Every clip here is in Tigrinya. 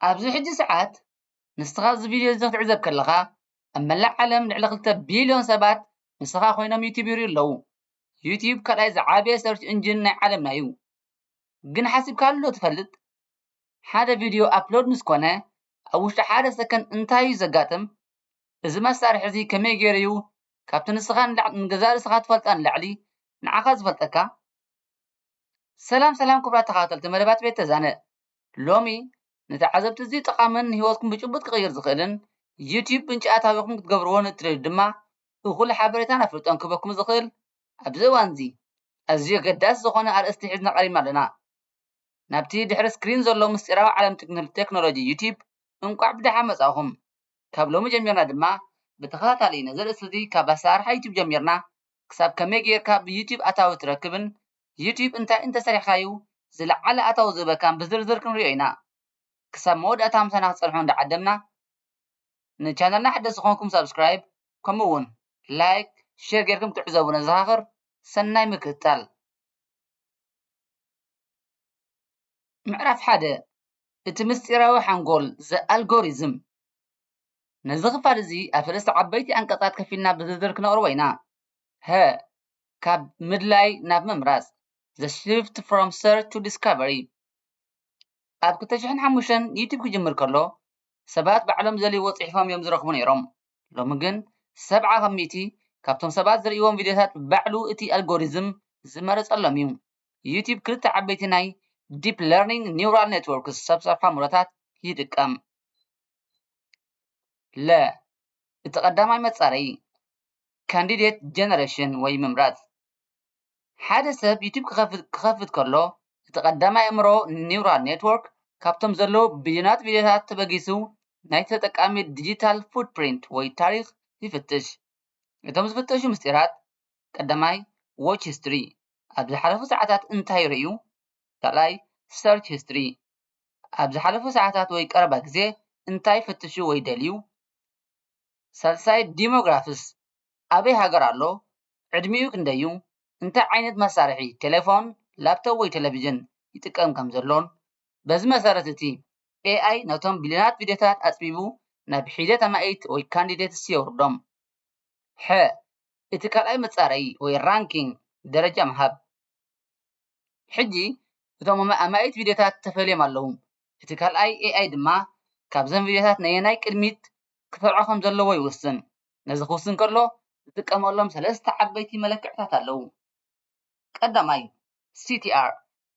ኣብዚ ሕጂ ሰዓት ንስኻ እዚ ቪድዮ እዚ ክትዕዘብ ከለኻ ኣብ መላእ ዓለም ልዕሊ ክልተ ቢልዮን ሰባት ንስኻ ኮይኖም ዩቱብ ይሪኡ ኣለዉ። ዩቱብ ካልኣይ ዝዓበየ ሰርች እንጅን ናይ ዓለምና እዩ። ግን ሓሲብካሉ ዶ ትፈልጥ? ሓደ ቪድዮ ኣፕሎድ ምስ ኮነ ኣብ ውሽጢ ሓደ ሰከንድ እንታይ እዩ ዘጋጥም? እዚ መሳርሒ እዚ ከመይ ገይሩ እዩ ካብቲ ንስኻ ንገዛእ ርእስኻ ትፈልጣ ንላዕሊ ንዓኻ ዝፈልጠካ? ሰላም ሰላም ክቡራት ተኸታተልቲ መደባት ቤት ተዛነ ሎሚ ንተዓዘብቲ ኣዝዩ ጠቓምን ንህይወትኩም ብጭቡጥ ክቕይር ዝኽእልን ዩትዩብ ምንጪ ኣታዊኹም ክትገብርዎ ንእትደልዩ ድማ እኹል ሓበሬታን ኣፍልጦን ክህበኩም ዝኽእል ኣብዚ እዋንዚ ኣዝዩ ኣገዳሲ ዝኾነ ኣርእስቲ ሒዝና ቀሪብና ኣለና ናብቲ ድሕሪ ስክሪን ዘሎ ምስጢራዊ ዓለም ቴክኖሎጂ ዩትዩብ እንቋዕ ብደሓን መጻእኹም ካብ ሎሚ ጀሚርና ድማ ብተኸታታሊ ነዚ ርእስቲ እዚ ካብ ኣሰራርሓ ዩትዩብ ጀሚርና ክሳብ ከመይ ጌርካ ብዩትዩብ ኣታዊ ትረክብን ዩቱብ እንታይ እንተሰሪሕካዩ ዝለዓለ ኣታዊ ዝህበካን ብዝርዝር ክንሪኦ ኢና። ክሳብ መወዳእታ ምሳና ክትጸንሑ እንዳዓደምና፣ ንቻነልና ሓደስቲ ኮንኩም ሳብስክራይብ ከምኡ ውን ላይክ ሼር ጌርኩም ክትዕዘቡ ነዘኻኽር። ሰናይ ምክትታል። ምዕራፍ ሓደ፣ እቲ ምስጢራዊ ሓንጎል፣ The Algorithm፣ ነዚ ክፋል እዚ ኣብ ሰለስተ ዓበይቲ ኣንቀጻት ከፊልና ብዝርዝር ክነቕርቦ ኢና። ሀ፣ ካብ ምድላይ ናብ ምምራጽ፣ The Shift From Search to Discovery፣ ኣብ ክልተ ሽሕን ሓሙሽተን ዩቱብ ክጅምር ከሎ ሰባት ባዕሎም ዝደልይዎ ጽሒፎም እዮም ዝረኽቡ ነይሮም። ሎሚ ግን ሰብዓ ካብ ሚእቲ ካብቶም ሰባት ዝርእይዎም ቪድዮታት ባዕሉ እቲ ኣልጎሪዝም ዝመረጸሎም እዩ። ዩቱብ ክልተ ዓበይቲ ናይ ዲፕ ለርኒንግ ኒውራል ኔትዎርክስ፣ ሰብ ሰርሖ ኣእምሮታት፣ ይጥቀም። ለ እቲ ቀዳማይ መጻረዪ፣ ካንዲዴት ጀነረሽን ወይ ምምራጽ። ሓደ ሰብ ዩቱብ ክኸፍት ከሎ እቲ ቀዳማይ ኣእምሮ ኒውራል ኔትዎርክ ካብቶም ዘለዉ ቢልዮናት ቪድዮታት ተበጊሱ ናይቲ ተጠቃሚ ዲጂታል ፉትፕሪንት ወይ ታሪኽ ይፍትሽ። እቶም ዝፍተሹ ምስጢራት፣ ቀዳማይ፣ ዎች ሂስትሪ፣ ኣብ ዝሓለፉ ሰዓታት እንታይ ርእዩ? ካልኣይ፣ ሰርች ሂስትሪ፣ ኣብ ዝሓለፉ ሰዓታት ወይ ቀረባ ግዜ እንታይ ፈቲሹ ወይ ደልዩ? ሳልሳይ ዲሞግራፍስ ኣበይ ሃገር ኣሎ ዕድሚኡ ክንደይ'ዩ እንታይ ዓይነት መሳርሒ ቴለፎን ላፕቶብ ወይ ቴለቪዥን ይጥቀም ከም ዘሎን በዚ መሰረት እቲ ኤኣይ ነቶም ቢልዮናት ቪድዮታት ኣጽቢቡ ናብ ሒደት ኣማኢት ወይ ካንዲዴትስ የውርዶም። ሐ። እቲ ካልኣይ መጻረዪ ወይ ራንኪንግ ደረጃ ምሃብ ሕጂ እቶም ኣማኢት ቪድዮታት ተፈልዮም ኣለዉ እቲ ካልኣይ ኤኣይ ድማ ካብዘን ቪድዮታት ነየናይ ቅድሚት ክሰርዖ ከም ዘለዎ ይውስን። ነዚ ክውስን ከሎ ዝጥቀመሎም ሰለስተ ዓበይቲ መለክዕታት ኣለዉ። ቀዳማይ፣ CTR፣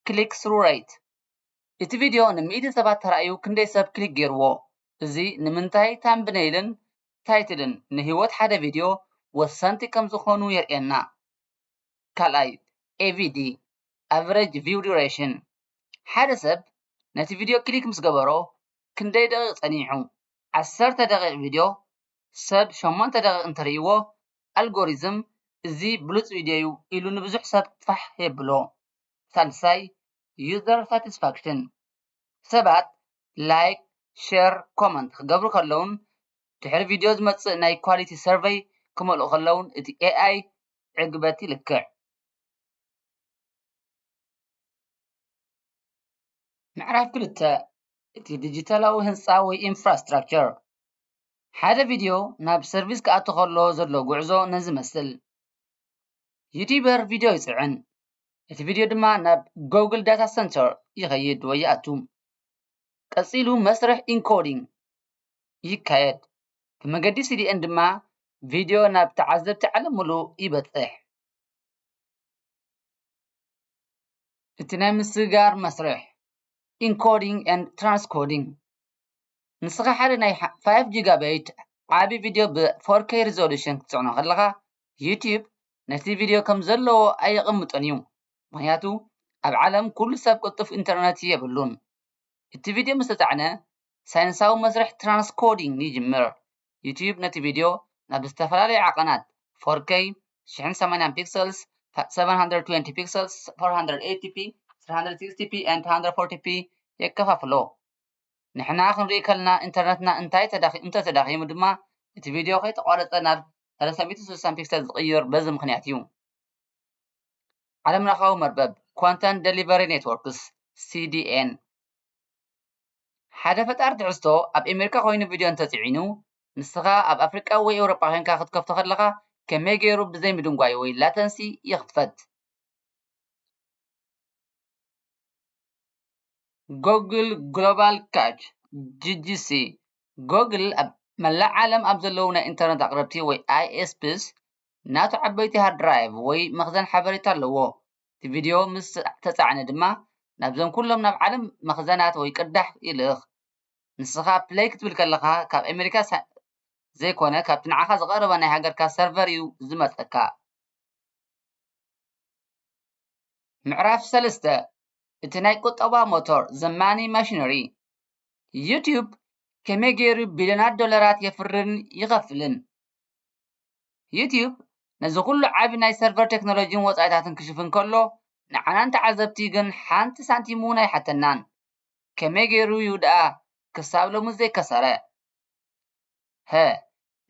Click Through Rate፣ እቲ ቪድዮ ን ሚእቲ ሰባት ተራእዩ ክንደይ ሰብ ክሊክ ገይርዎ? እዚ ንምንታይ ታምብነይልን ታይትልን ንህይወት ሓደ ቪድዮ ወሰንቲ ከም ዝኾኑ የርእየና። ካልኣይ፣ AVD፣ Average View Duration፣ ሓደ ሰብ ነቲ ቪድዮ ክሊክ ምስ ገበሮ ክንደይ ደቒቕ ጸኒሑ? ዓሰርተ ደቒቕ ቪድዮ ሰብ ሸሞንተ ደቒቕ እንተርእይዎ ኣልጎሪዝም እዚ ብሉጽ ቪድዮ'ዩ ኢሉ ንብዙሕ ሰብ ፋሕ የብሎ። ሳልሳይ፣ ዩዘር ሳቲስፋክሽን፣ ሰባት ላይክ፣ ሸር፣ ኮመንት ክገብሩ ከለዉን ድሕሪ ቪድዮ ዝመጽእ ናይ ኳሊቲ ሰርቨይ ክመልኡ ከለዉን እቲ ኤኣይ ዕግበት ይልክዕ። ምዕራፍ ክልተ፣ እቲ ዲጂታላዊ ህንጻ ወይ ኢንፍራስትራክቸር። ሓደ ቪድዮ ናብ ሰርቪስ ክኣቱ ከሎ ዘሎ ጉዕዞ ነዚ ይመስል። ዩቲበር ቪድዮ ይጽዕን፣ እቲ ቪድዮ ድማ ናብ ጎግል ዳታ ሰንተር ይኸይድ ወይ ይኣቱ። ቀጺሉ መስርሕ ኢንኮዲንግ ይካየድ፣ ብመገዲ CDN ድማ ቪድዮ ናብ ተዓዘብቲ ዓለም ምሉእ ይበጽሕ። እቲ ናይ ምስግጋር መስርሕ። ኢንኮዲንግ ኤንድ ትራንስኮዲንግ ንስኻ ሓደ ናይ ፋይቭ ጂጋባይት ዓቢ ቪድዮ ብ ፎር ከይ ሪዞሉሽን ክትጽዕኖ ከለኻ ዩቱብ ነቲ ቪድዮ ከም ዘለዎ ኣየቐምጦን እዩ ምኽንያቱ ኣብ ዓለም ኩሉ ሰብ ቅልጡፍ ኢንተርነት የብሉን እቲ ቪድዮ ምስ ተጻዕነ ሳይንሳዊ መስርሕ ትራንስኮዲንግ ይጅምር ዩትዩብ ነቲ ቪድዮ ናብ ዝተፈላለየ ዓቐናት፣ ፎርከይ፣ ሽሕን ሰማንያን ፒክሰልስ፣ ሰቨን ሃንድረድ ትዌንቲ ፒክሰልስ፣ ፎር ሃንድረድ ኤይቲ ፒ፣ ስሪ ሃንድረድ ሲክስቲ ፒ ኤንድ ቱ ሃንድረድ ፎርቲ ፒ የከፋፍሎ። ንሕና ክንርኢ ከለና ኢንተርነትና እንተተዳኺሙ ድማ እቲ ቪድዮ ከይተቋረጸ ናብ ሰለስተ ሚእቲ ስሳን ፒክሰል ዝቕይር በዚ ምኽንያት እዩ። ዓለምለኻዊ መርበብ ኮንተንት ደሊቨሪ ኔትዎርክስ፣ ሲዲኤን፣ ሓደ ፈጣሪ ትሕዝቶ ኣብ ኤሜሪካ ኮይኑ ቪድዮ እንተጺዒኑ ንስኻ ኣብ ኣፍሪቃ ወይ ኤውሮጳ ኮንካ ክትከፍቶ ከለኻ ከመይ ጌሩ ብዘይ ምድንጓይ ወይ ላተንሲ ይኽፈት? ጎግል ግሎባል ካች፣ GGC፣ ጎግል ኣብ መላእ ዓለም ኣብ ዘለዉ ናይ ኢንተርነት ኣቕረብቲ ወይ ISPs ናቱ ዓበይቲ ሃርድ ድራይቭ ወይ መኽዘን ሓበሬታ ኣለዎ። እቲ ቪድዮ ምስ ተጻዕነ ድማ ናብዘን ኩሎም ናብ ዓለም መኽዘናት ወይ ቅዳሕ ይልእኽ። ንስኻ ፕለይ ክትብል ከለኻ ካብ ኣሜሪካ ዘይኮነ ካብቲ ንዓኻ ዝቐረበ ናይ ሃገርካ ሰርቨር እዩ ዝመጸካ። ምዕራፍ ሰለስተ፣ እቲ ናይ ቁጠባ ሞቶር፣ The Money Machinery፣ ዩትዩብ ከመይ ገይሩ ቢልዮናት ዶላራት የፍርን ይኸፍልን? ዩትዩብ ነዚ ኹሉ ዓቢ ናይ ሰርቨር ቴክኖሎጂን ወጻኢታትን ክሽፍን ከሎ ንዓና ንተዓዘብቲ ግን ሓንቲ ሳንቲም'ውን ኣይሓተናን። ከመይ ገይሩ'ዩ ደኣ ክሳብ ሎሚ ዘይከሰረ? ሀ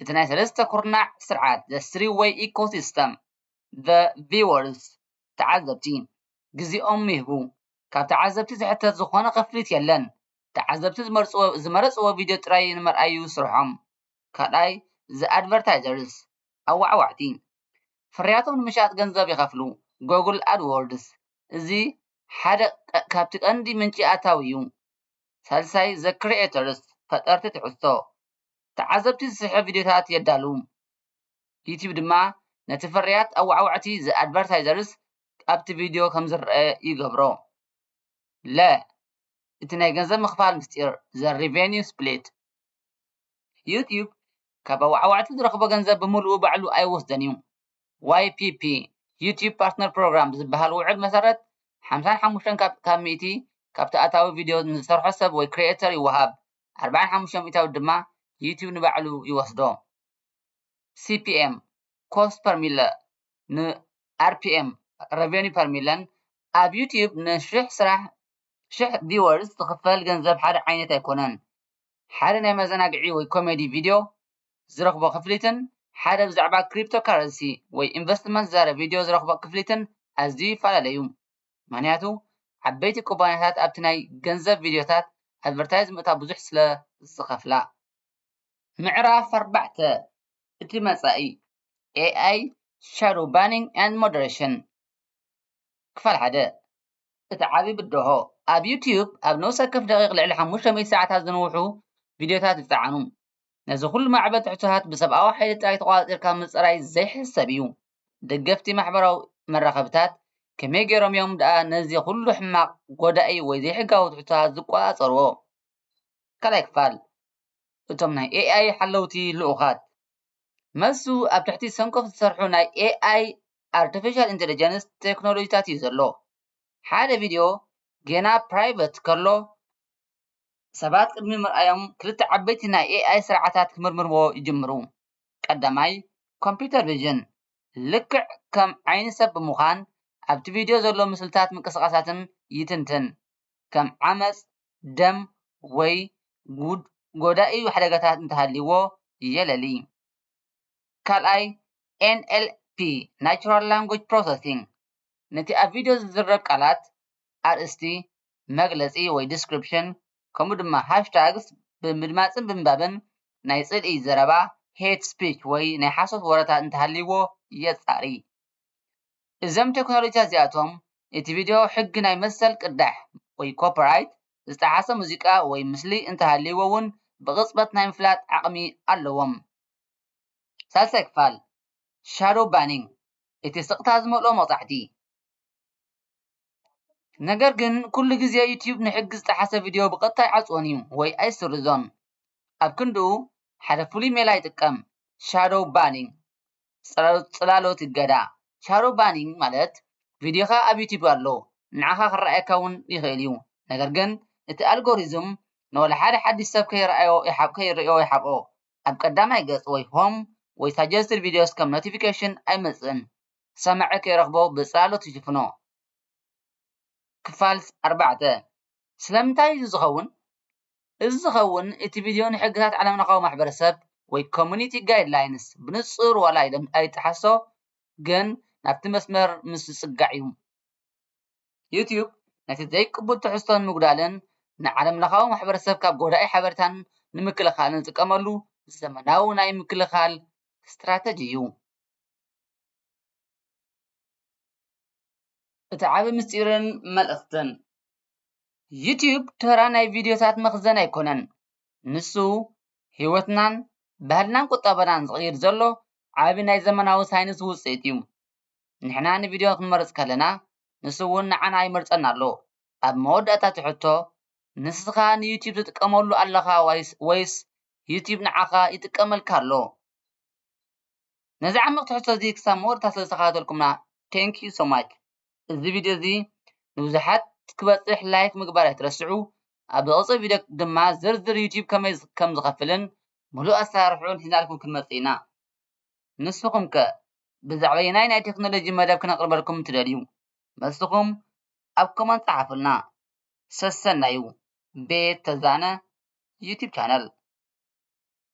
እቲ ናይ ሰለስተ ኩርናዕ ስርዓት The Three Way Ecosystem The Viewers ተዓዘብቲ ግዜኦም ይህቡ። ካብ ተዓዘብቲ ዝሕተት ዝኾነ ክፍሊት የለን። ተዓዘብቲ ዝመርጽዎ ዝመረጽዎ ቪድዮ ጥራይ ንመርኣይ'ዩ ስርሖም። ካልኣይ the advertisers ኣዋዕዋዕቲ ፍርያቶም ንምሻጥ ገንዘብ ይኸፍሉ Google AdWords እዚ ሓደ ካብቲ ቀንዲ ምንጪ ኣታዊ እዩ ሳልሳይ the creators ፈጠርቲ ትሕዝቶ ተዓዘብቲ ዝስሕብ ቪድዮታት የዳሉ ዩትዩብ ድማ ነቲ ፍርያት ኣዋዕዋዕቲ the advertisers ኣብቲ ቪድዮ ከም ዝረኣ ይገብሮ ለ እቲ ናይ ገንዘብ ምኽፋል ምስጢር the revenue split ዩትዩብ ካብ ኣወዓዋዕቲ ዝረኽቦ ገንዘብ ብምሉኡ ባዕሉ ኣይወስዶን እዩ። YPP፣ ዩትዩብ ፓርትነር ፕሮግራም፣ ብዝበሃል ውዕል መሰረት ሓምሳን ሓሙሽተን ካብ ካብ ሚእቲ ካብቲ ኣታዊ ቪድዮ ንዝሰርሖ ሰብ ወይ ክሪኤተር ይወሃብ፣ ኣርባዓን ሓሙሽተ ሚእታዊት ድማ ዩትዩብ ንባዕሉ ይወስዶ። CPM፣ ኮስት ፐር ሚለ፣ ን RPM፣ ረቨንዩ ፐር ሚለን፣ ኣብ ዩትዩብ ንሽሕ ስራሕ፣ ሽሕ ቪወርስ፣ ዝኽፈል ገንዘብ ሓደ ዓይነት ኣይኮነን። ሓደ ናይ መዘናግዒ ወይ ኮሜዲ ቪድዮ ዝረኽቦ ክፍሊትን ሓደ ብዛዕባ ክሪፕቶካረንሲ ወይ ኢንቨስትመንት ዝዛረብ ቪድዮ ዝረኽቦ ክፍሊትን ኣዝዩ ይፈላለ እዩ። ምኽንያቱ ዓበይቲ ኩባንያታት ኣብቲ ናይ ገንዘብ ቪድዮታት ኣድቨርታይዝ ምእታው ብዙሕ ስለ ዝኸፍላ። ምዕራፍ ኣርባዕተ እቲ መጻኢ፣ AI፣ Shadow Banning and Moderation ክፋል ሓደ፣ እቲ ዓቢ ብድሆ፣ ኣብ ዩትዩብ ኣብ ነብሲ ወከፍ ደቒቕ ልዕሊ ሓሙሽተ ሚእቲ ሰዓታት ዝንውሑ ቪድዮታት ይጸዓኑ። ነዚ ዅሉ ማዕበል ትሕዝቶታት ብሰብኣዊ ሓይሊ ጥራይ ተቖጻጺርካ ምጽራይ ዘይሕሰብ እዩ። ደገፍቲ ማሕበራዊ መራኸቢታት ከመይ ገይሮም እዮም ደኣ ነዚ ዅሉ ሕማቕ፣ ጐዳኢ ወይ ዘይሕጋዊ ትሕዝቶታት ዝቈጻጸርዎ? ካልኣይ ክፋል፣ እቶም ናይ ኤኣይ ሓለውቲ ልኡኻት። መልሱ ኣብ ትሕቲ ሰንኮፍ ዝሰርሑ ናይ ኤኣይ ኣርተፊሻል ኢንተለጀንስ ቴክኖሎጂታት እዩ ዘሎ። ሓደ ቪድዮ ጌና ፕራይቨት ከሎ፣ ሰባት ቅድሚ ምርኣዮም ክልተ ዓበይቲ ናይ ኤኣይ ስርዓታት ክምርምርዎ ይጅምሩ። ቀዳማይ፣ ኮምፕዩተር ቪዥን፣ ልክዕ ከም ዓይኒ ሰብ ብምዃን ኣብቲ ቪድዮ ዘሎ ምስልታትን ምንቅስቓሳትን ይትንትን፣ ከም ዓመጽ፣ ደም ወይ ጎዳኢ ሓደጋታት እንተሃልዩዎ የለሊ። ካልኣይ፣ NLP፣ Natural Language Processing፣ ነቲ ኣብ ቪድዮ ዝዝረብ ቃላት፣ ኣርእስቲ፣ መግለጺ ወይ ዲስክሪፕሽን፣ ከምኡ ድማ ሃሽታግስ ብምድማጽን ብምንባብን ናይ ጽልኢ ዘረባ፣ Hate Speech፣ ወይ ናይ ሓሶት ወረታት እንተሃልይዎ የጻሪ። እዘም ቴክኖሎጂታት እዚኣቶም፣ እቲ ቪድዮ ሕጊ ናይ መሰል ቅዳሕ ወይ ኮፒራይት ዝጠሓሰ ሙዚቃ ወይ ምስሊ እንተሃልይዎ እውን ብቕጽበት ናይ ምፍላጥ ዓቕሚ ኣለዎም። ሳልሳይ ክፋል፣ Shadow Banning፣ እቲ ስቕታ ዝመልኦ መቕጻዕቲ። ነገር ግን ኩሉ ግዜ ዩትዩብ ንሕጊ ዝጠሓሰ ቪድዮ ብቐጥታ ኣይዓጽዎን እዩ ወይ ኣይስርዞን። ኣብ ክንድኡ ሓደ ፍሉይ ሜላ ይጥቀም፣ Shadow Banning፣ ጽላሎት እገዳ። Shadow Banning ማለት ቪድዮኻ ኣብ ዩትዩብ ኣሎ፣ ንዓኻ ክረኣየካ እውን ይኽእል እዩ፣ ነገር ግን እቲ ኣልጎሪዝም ንወላ ሓደ ሓድሽ ሰብ ከይረኣዮ ይሓብኦ። ኣብ ቀዳማይ ገጽ ወይ Home ወይ Suggested Videos ከም ኖቲፊኬሽን ኣይመጽእን። ሰማዒ ከይረኽቦ ብጽላሎት ይሽፍኖ። ክፋል ኣርባዕተ ስለምንታይ እዚ ዝኸውን? እዚ ዝኸውን እቲ ቪድዮ ንሕግታት ዓለምለኻዊ ማሕበረሰብ ወይ Community Guidelines ብንጹር ዋላ ኣይጠሓሶ ግን ናብቲ መስመር ምስ ዝጽጋዕ እዩ። ዩትዩብ ነቲ ዘይቅቡል ትሕዝቶ ንምጉዳልን ንዓለምለኻዊ ማሕበረሰብ ካብ ጎዳኢ ሓበሬታን ንምክልኻልን ዝጥቀመሉ ዘመናዊ ናይ ምክልኻል ስትራተጂ እዩ። እቲ ዓቢ ምስጢርን መልእኽትን፣ ዩትዩብ ተራ ናይ ቪድዮታት መኽዘን ኣይኮነን፣ ንሱ ህይወትናን ባህልናን ቁጠባናን ዝቕይር ዘሎ ዓቢ ናይ ዘመናዊ ሳይንስ ውጽኢት እዩ። ንሕና ንቪድዮ ክንመርጽ ከለና ንሱ'ውን ንዓና ይመርጸና ኣሎ። ኣብ መወዳእታ እቲ ሕቶ ንስኻ ንዩቱብ ትጥቀመሉ ኣለኻ ወይስ ዩቱብ ንዓኻ ይጥቀመልካ ኣሎ? ነዚ ዓሚቕ ትሕዝቶ እዚ ክሳብ መወዳእታ ስለ ዝተኸታተልኩምና Thank you so much እዚ ቪድዮ እዚ ንብዙሓት ክበጽሕ ላይክ ምግባር ኣይትረስዑ ኣብ ዝቕጽል ቪድዮ ድማ ዝርዝር ዩቱብ ከመይ ከም ዝኸፍልን ምሉእ ኣሰራርሕኡን ሒዝናልኩም ክንመጽእ ኢና ንስኹም ከ ብዛዕበየናይ ናይ ቴክኖሎጂ መደብ ክነቅርበልኩም እትደልዩ መልስኹም ኣብ ኮመንት ጸሓፉልና። ሰሰናዩ ቤት ተዛነ ዩቱብ ቻነል።